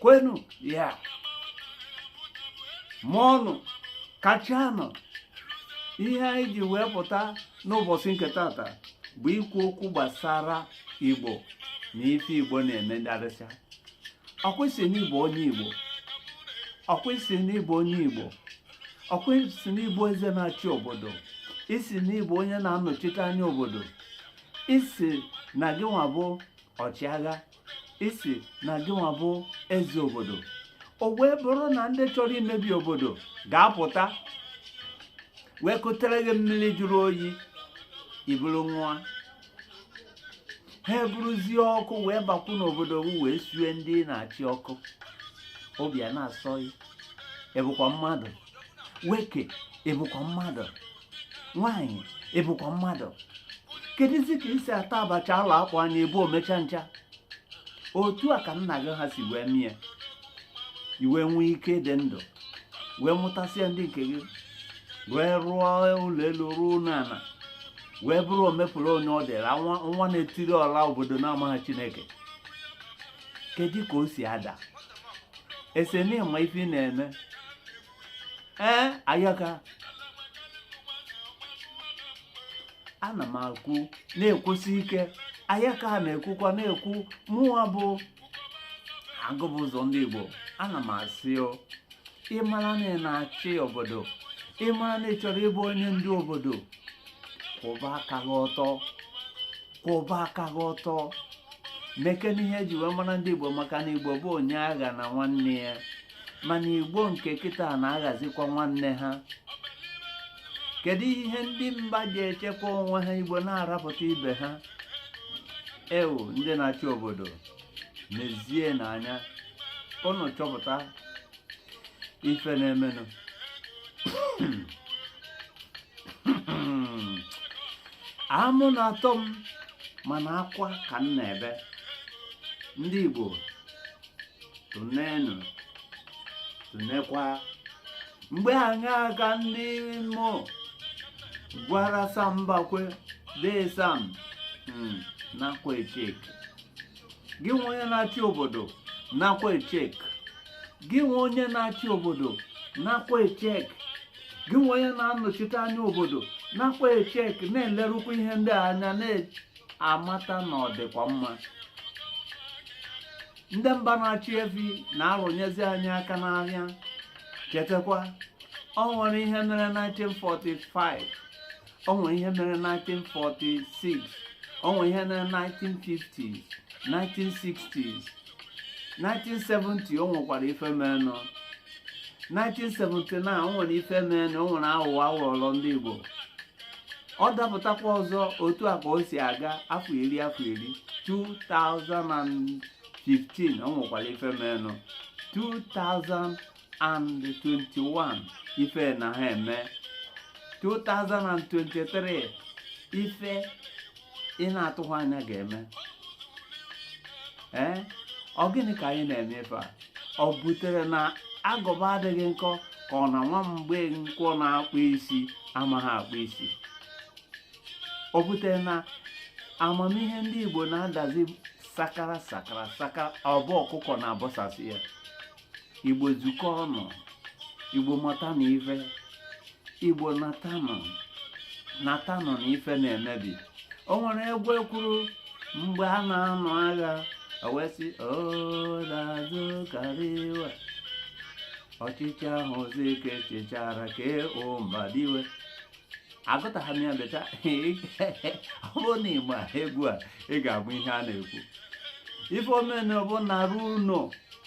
kwenu ya mụọnụ kachanụ ihe anyị ji wee pụta n'ụbọchị nke tata bụ ikwu okwu gbasara igbo na ife igbo na-eme ndarịcha ọkwụsị n'ịbụ onye igbo ọkwụsị n'ịbụ onye igbo ọkwụsị n'ịbụ eze na-achị obodo ịsị n'ị bụ onye na-anọchite anya obodo ịsị na gị nwa bụ ọchịagha ịsị na gị nwa bụ eze obodo o wee bụrụ na ndị chọrọ imebi obodo ga-apụta wee kutere gị mmiri jụrụ oyi i buru ṅụa ha eburuzie ọkụ wee bakwu n'obodo gị wee sue ndị na-achị ọkụ obi ana-asọ gị ị bụkwa mmadụ nwoke ị bụkwa mmadụ nwaanyị ị bụkwa mmadụ kedụzi ka i si ata abacha ala akpụ anya ebe omechancha otu a ka nna gị ha si wee mee i wee nwee ike dị ndụ wee mụtasịa ndị nke gị wee rụọ ụlọ elu rụọ ụlọ ala wee bụrụ omepụrụ onye ọ dịra nwa na-etiri ọra obodo na-amaghị chineke kedu ka o si ada ị sị na ị ma ife ị na-eme ee ayaka ana m ekwu na-ekwusi ike ayaka a na-ekwukwa na-ekwu mụwa bụ agụ bu ụzọ ndị Igbo ana m asị o ị mara na ị na-achị obodo ị mara na ị chọrọ ịbụ onye ndu obodo kwụba aka gị ọtọ kwụba aka gị ọtọ mekene ihe e ji wee mara ndị igbo maka na igbo bụ onye aghana nwanne ya mana igbo nke kịta na-aghazikwa nwanne ha kedu ihe ndị mba ji echekwa onwe ha igbo na-arapụta ibe ha ee ndị na-achị obodo nezienụ anya ụnụ chọpụta ife na-emenụ amụ na-atọ m mana akwa ka m na-ebe ndị Igbo tụnenụ tụnekwa mgbe anyị aga ndị Imo gwara Sam Mbakwe dee Sam hmm, nakwa echeki gị nwa onye na-achị obodo nakwa echeki gị nwa onye na-achị obodo nakwa echeki gị nwa onye na-anọchite anya obodo nakwa echeki na-elerukwa ihe ndị a anya na-amata na ọ dịkwa mma ndị mba na-achị efi na-arụnyezi anyị aka n'ahịa chetakwa o nwere ihe mere 1945 o nwere ihe mere 1946 o nwere ihe mere 1950s 1960s 1970 o nwekwara ife meenụ 1979 o nwere ife meenụ o nwere aghụghọ a ghọrọ ndị Igbo ọ dapụtakwa ọzọ otu a ka o si aga afọ iri afọ iri 2015 o nwekwara ife meenụ and 21 ife na ha eme 2023 ife ị na-atụghị anya ga-eme ee ọ gịnị ka anyị na-eme ife a ọ butere na agụba adịghị nkọ ka ọ na nwa Mgbenkwọ na-akpụ isi amaghị akpụ isi ọ butere na amamihe ndị Igbo na-adazi sakara sakara sakara ọ bụ ọkụkọ na-abọsasị ya igbo zukọ ọnụ igbo matanụ ife igbo natanụ natanụ na ife na-emebi o nwere egwu e kwuru mgbe a na-anụ agha ewesị odazu kariwa ọchịchị ahụ Zik chịchara K.O. Mbadiwe agụtaghị m ya beta ọ bụrụ na ị gbaa egwu a ị ga-abụ ihe a na-ekwu ife omena bụ naruo ụnọ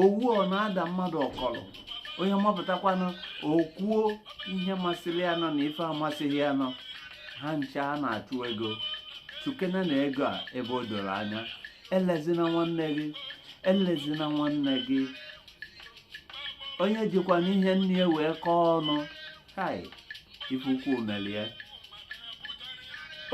owu ọ na-ada mmadụ ọkọlụ onye mapụtakwanụ o kwuo ihe masịrị ya nụ na ife amasịghị ya nụ ha ncha a na-achụ ego chukene na ego a ebe o doro anya elezina nwanne gị elezina nwanne gị onye jikwanụ ihe nne ya wee kọọ ọnụ hai ife ukwu mere ya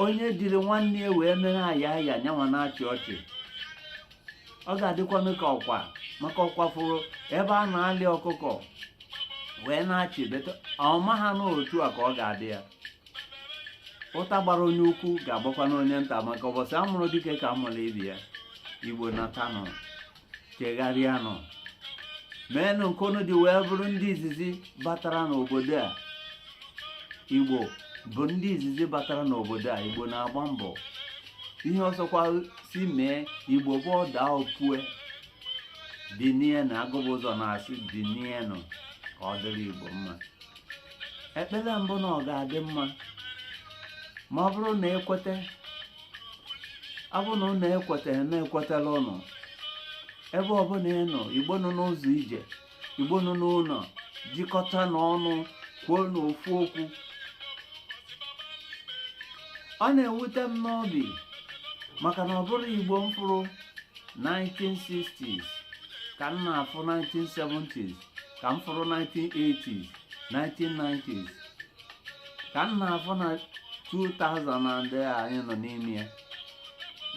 onye jiri nwanne ya wee mere aya aya nyanwa na-achị ọchị ọ ga-adịkwanụ ka ọkwa maka ọkwa fụrụ ebe a na-alị ọkụkọ wee na-achị but ọ maha na otu a ka ọ ga-adị ya ụta gbara onye ukwu ga-agbakwanụ onye nta maka ụbọchị a mụrụ dike ka a mụrụ ibe ya igbo natanụ chegharịanụ meenụ nke unu ji wee bụrụ ndị izizi batara n'obodo a igbo bụ ndị izizi batara n'obodo a igbo na-agba mbọ ihe ọ sọkwa sị mee igbo bụ ọ daa o pue dinie na agụba ụzọ na-asị dinienụ ka ọ dịrị igbo mma ekpere m bụ na ọ ga-adị mma ma ọ bụrụ na e kweta ọ bụrụ na ụnụ ekweta na ekwetala ụnụ ebe ọbụla ị nọ igbo nọ n'ụzọ ije igbo nọ n'ụlọ jikọtanụ ọnụ kwuonụ ofu okwu ọ na-ewute m n'obi maka na ọ bụrọ igbo m fụrụ 1960s ka m na-afụ 1970s ka m fụrụ 1980s 1990s ka m na-afụ na 2000 na ndị a anyị nọ n'ime ya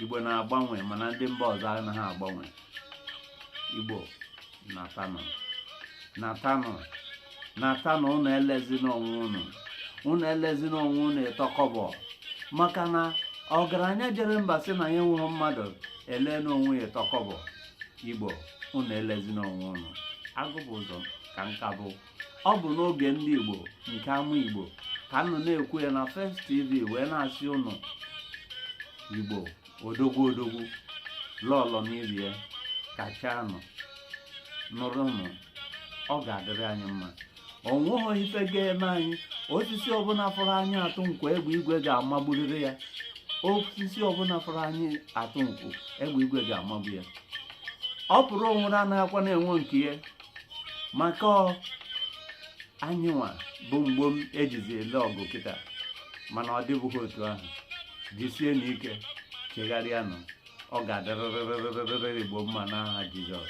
igbo na-agbanwe mana ndị mba ọzọ anaghị agbanwe igbo natanụ natanụ natanụ unu elezina onwe unu unu elezina onwe unu ịtọkọbọ maka na ọgaranya jere mba sị na ya enweghị mmadụ ele n'onwe ya ịtọkọbọ igbo unu elezina onwe unu agụ bụ ụzọ ka nka bụ ọ bụ n'oge ndị igbo nke ama igbo ka m nọ na-ekwu ya na First TV wee na-asị unu igbo odogwu odogwu lọlọ n'ibie kachanụ nụrụnụ ọ ga-adịrị anyị mma ọ nweghị ife ga-eme anyị osisi ọbụla fụrụ anyị atụ nkụ egbe igwe ga-amagburịrị ya osisi ọbụla fụrụ anyị atụ nkụ egbe igwe ga-amagbu ya ọ pụrụ onwere anaghịkwa na-enwe nke ya maka ọ anyịnwa bụ mgbom e jizi ele ọgwụ kịta mana ọ dịbughị otu ahụ jisienụ ike chegharịanụ ọ ga-adịrịrịrịrịrị igbo mma n'aha jizọs